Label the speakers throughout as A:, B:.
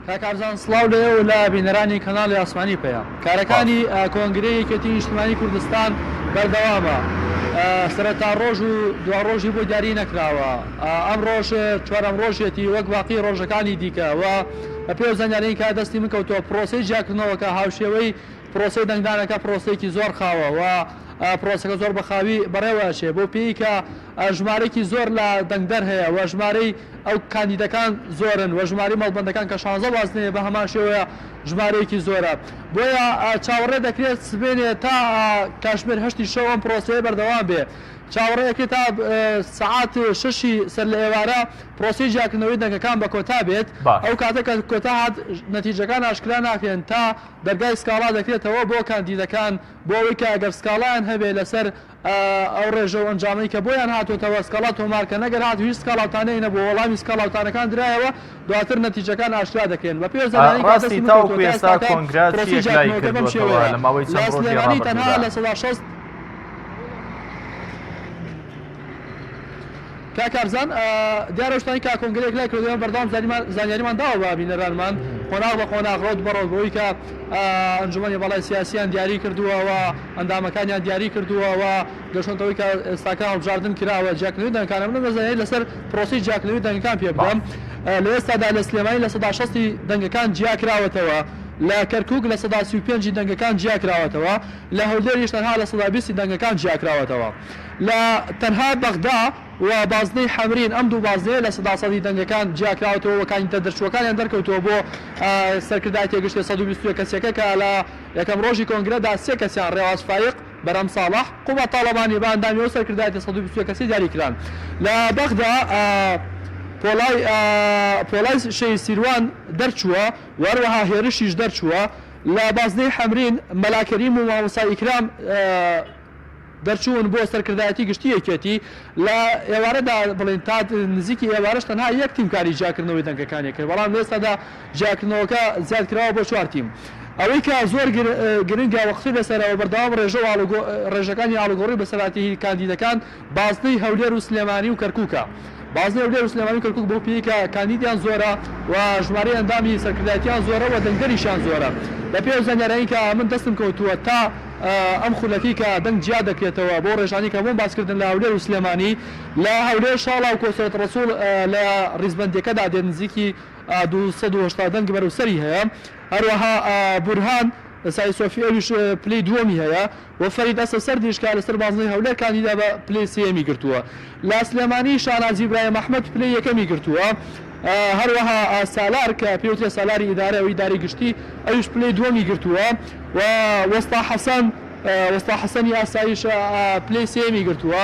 A: کاکارزان سڵاو لێ و لە بینەرانی کەناڵی ئاسمانی پێە کارەکانی کۆنگری یەکێتی نیشتمانی کوردستان بەردەوامە سەرتا ڕۆژ و دو ڕۆژی بۆ دیاری نەکراوە ئەم ڕۆژ چوارم ڕۆژێتی وەک باقی ڕۆژەکانی دیکەوە بە پێ زانیارین کە دەستی من کەوتەوە پرۆسی جیاکردنەوەکە هاوشێوەی پرۆسی دەنگدانەکە پرۆسێکی زۆر خاوەوە پرۆسەکە زۆر بەخاوی بەڕێوەچێ بۆ پێیکە ژمارەێکی زۆر لە دەنگدەر هەیە و ژمارەی ئەو کاندیدەکان زۆرن و ژمارەی مەڵبەندەکان کە شانزە بازنەیە بە هەمان شێوەیە ژمارەیەکی زۆرە. بۆیە چاوەڕێ دەکرێت سبەینێ تا کاتژمێر هەشتی شەو ئەم پرۆسەیە بەردەوام بێ. چاوەڕێ ئەکرێت تا سەعات شەشی سەر لە ئێوارە پرۆسەی جیاکردنەوەی دەنگەکان بە کۆتا بێت. ئەو کاتە کە کۆتا هات نەتیجەکان ئاشکرا ناکرێن تا دەرگای سکاڵا دەکرێتەوە بۆ کاندیدەکان بۆ ئەوەی کە ئەگەر سکاڵایان هەبێ لەسەر ئەو ڕێژە و ئەنجامەی کە بۆیان هاتۆتەوە سکاڵا تۆمار کەن، ئەگەر هاتوو هیچ سکاڵاوتانەی نەبووە، وەڵامی سکاڵاوتانەکان درایەوە، دواتر نەتیجەکان ئاشکرا دەکرێن. بە پێ زانانی کە دەستی من کەوتووەتە ئێستاکە
B: پرۆسەی جیاکردنەوەکە بەم
A: شێوەیە، لە سلێمانی تەنها لە سەدا شەست. کاک ئارزان دیارە شتانی کا کۆنگرەیەک لای کردەوە بەردەوام زانیاریمان داوە بە بینەرانمان قۆناغ بە قۆناغ ڕەوت بەڕەوت بۆی کە ئەنجومەنی باڵای سیاسیان دیاری کردووەوە ئەندامەکانیان دیاری کردووە و گەشۆنتەوەی کە ئێستاکە هەڵبژاردن کراوە جیاکردنەوەی دەنگەکانە من ئەمە زانیاری لەسەر پرۆسەی جیاکردنەوەی دەنگەکان پێ بدەم لە ئێستادا لە سلێمانی لە سەدا شەستی دەنگەکان جیاکراوەتەوە لە کەرکووک لە سەدا سی و پێنجی دەنگەکان جیاکراوەتەوە لە هەولێریش تەنها لە سەدا بیستی دەنگەکان جیاکراوەتەوە لە تەنها بەغدا و بازنەی حەمرین ئەم دوو بازنەیە لە سەدا سەدی دەنگەکان جیاکراوەتەوە و کاندیدە دەرچووەکانیان دەرکەوتووە بۆ سەرکردایەتیە گشتیە سەد و بیست و یەک کەسیەکە کە لە یەکەم ڕۆژی کۆنگرەدا سێ کەسیان، ڕێواز فایق، بەرام ساڵح، قوباد تاڵەبانی، بە ئەندامی ئەو سەرکردایەتیە سەد و بیست و یەک کەسیە دیاری کران لە بەغدا پۆڵای پۆڵای شێی سیروان دەرچووە و هەروەها هێرشیش دەرچووە لە بازنەی حەمرین، مەلا کەریم و مامۆستا ئیکرام. دەرچوون بۆ سەرکردایەتی گشتی یەکێتی، لە ئێوارەدا بڵێین تا نزیکی ئێوارەش تەنها یەک تیم کاری جیاکردنەوەی دەنگەکانی کرد، بەڵام لە ئێستادا جیاکردنەوەکە زیادکراوە بۆ چوار تیم. ئەوەی کە زۆر گرنگە و قسەی لەسەرە و بەردەوام ڕێژە و ڕێژەکانی ئاڵوگۆڕی بەسەرهاتی کاندیدەکان بازنەی هەولێر و سلێمانی و کەرکوکە. بازنەی هەولێر و سلێمانی و کەرکوک بەو پێیەی کە کاندیدیان زۆرە و ژمارەی ئەندامی سەرکردایەتیان زۆرە و دەنگدەریشیان زۆرە. بە پێی ئەو زانیاریانەی کە من دەستم کەوتووە تا ئەم خولەکەی کە دەنگ جیا دەکرێتەوە بەو رێژانەی کە بۆم باس کردن لە هەولێر و سلێمانی لە هەولێر شاڵاو کۆسرەت رەسوڵ لە ریزبەندییەکەدا دێت نزیکی دوو سەد و هەشتا دەنگی بەرەو سەری هەیە هەروەها بورهان سای سۆفی ئەویش پلەی دووەمی هەیە. و فەرید ئەسەسەردیش کە لەسەر بازنەی هەولێر کاندیدا بە پلەی سێیەمی گرتووە. لە سلێمانی شاناز ئیبراهیم ئەحمەد پلەی یەکەمی گرتووە. هەروەها سالار کە پێوترێ سالاری ئیدارە و ئیدارەی گشتی ئەویش پلەی دووەمی گرتووە و وەستا حەسەن وەستا حەسەنی ئاسایش پلەی سێیەمی گرتووە.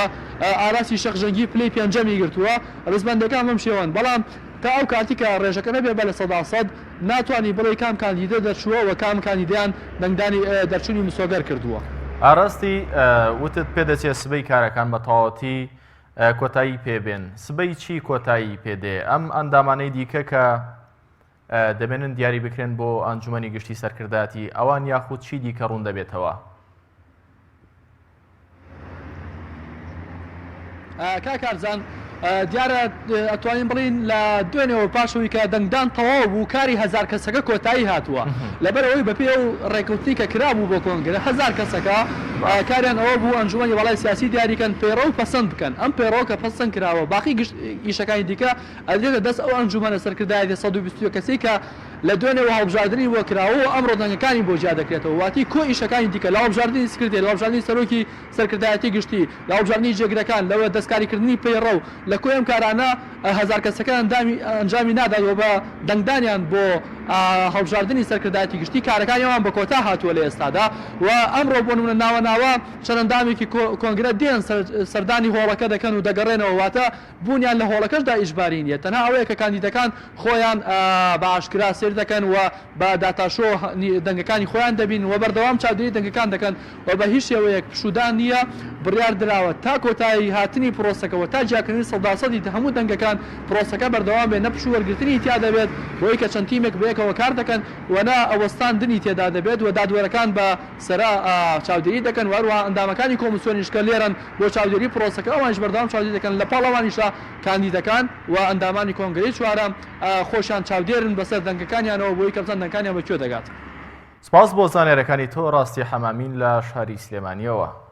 A: ئاراسی شێخ ژەنگی پلەی پێنجەمی گرتووە. ڕیزبەندەکان بەم شێوەن. بەڵام تا ئەو کاتی کە ڕێژەکە نەبێ بە لە سەدا سەد، ناتوانی بڵێی کام کاندیدە دەرچووە و کام کاندیدەیان دەنگدانی دەرچوونی مسۆگەر کردووە. ئاراستی،
B: وتت پێدەچێ سبەی کارەکان بە تەواوەتی کۆتایی پێ بێن، سبەی چی کۆتایی پێ دێ؟ ئەم ئەندامانەی دیکە کە دەمێنن دیاری بکرێن بۆ ئەنجوومەنی گشتی سەرکردایەتی، ئەوان یاخود چی دیکە ڕوون دەبێتەوە؟
A: کاکارزان دیارە ئەتوانین بڵین لە دوێنێەوە پاشەوەی کە دەنگدان تەواو بوو کاری هزار کەسەکە کۆتایی هاتووە لەبەرەوەی بەپێ و ڕێکوتنی کە کرابوو بۆ کۆنگرە هزار کەسەکە کاریان ئەوە بوو ئەنجومی وڵای سیاسی دیاریکەن پەیڕە و پەسەند بکەن ئەم پەیڕەوە کە پەسەن کراوە باقی گشت ئیشەکانی دیکە ئەدرێتە دەست ئەو ئەنجومەنە سەرکردایەتی 120 کەسی کە لە دوێنێ وهەڵبژاردنی وە کراوە و ئەمڕۆ دەنگەکانی بۆ جیا دەکرێتەوە واتی کۆ ئیشەکانی دیکە لە هەڵبژاردنی سکرتێر لە هەڵبژاردنی سەرۆکی سەرکردایەتی گشتی لە هەڵبژاردنی جێگرەکان لە وە دەستکاری کردنی پەیڕە و لە کۆی ئەم کارانە هەزار کەسەکە ئەندامی ئەنجامی نادات وە بە دەنگدانیان بۆ هەڵبژاردنی سەرکردایەتی گشتی کارەکانی ئەوان بە کۆتا هاتووە لە ئێستادا و ئەمڕۆ بۆ نمونە ناوە ناوە چەند ئەندامێکی کۆنگرە دێن سەردانی هۆڵەکە دەکەن و دەگەڕێنەوە واتە بوونیان لە هۆڵەکەشدا ئیجباری نییە، تەنها ئەوەیە کە کاندیدەکان خۆیان بە ئاشکرا سەیر دەکەن و بە داتاشۆ دەنگەکانی خۆیان دەبینن و بەردەوام چاودێری دەنگەکان دەکەن و بە هیچ شێوەیەک پشوودان نییە، بڕیار دراوە تا کۆتایی هاتنی پرۆسەکە و تا جیاکردنی سەداسەدی هەموو دەنگەکان پرۆسەکە بەردەوام بێت، نە پشوو وەرگرتنی تیا دەبێت بۆی کە چەند تیمێک بەیەکەوە کار دەکەن و نە وەستاندنی تێدا دەبێت و دادوەرەکان بە سەرا چاودێری دەکەن و هەروەها ئەندامەکانی کۆمسیۆنیش کە لێرەن بۆ چاودێری پرۆسەکە ئەوانیش بەردەوام چاودێری دەکەن لە پاڵ ئەوانیشا کاندیدەکان و ئەندامانی کۆنگرەی چوارەم خۆشیان چاودێرن بەسەر دەنگەکانیانەوە بۆی کە بزان دەنگەکانیان بە کوێ دەگات. سپاس
B: بۆ زانیارەکانی تۆ
A: ڕاستی
B: حەمامین لە شاری سلێمانیەوە.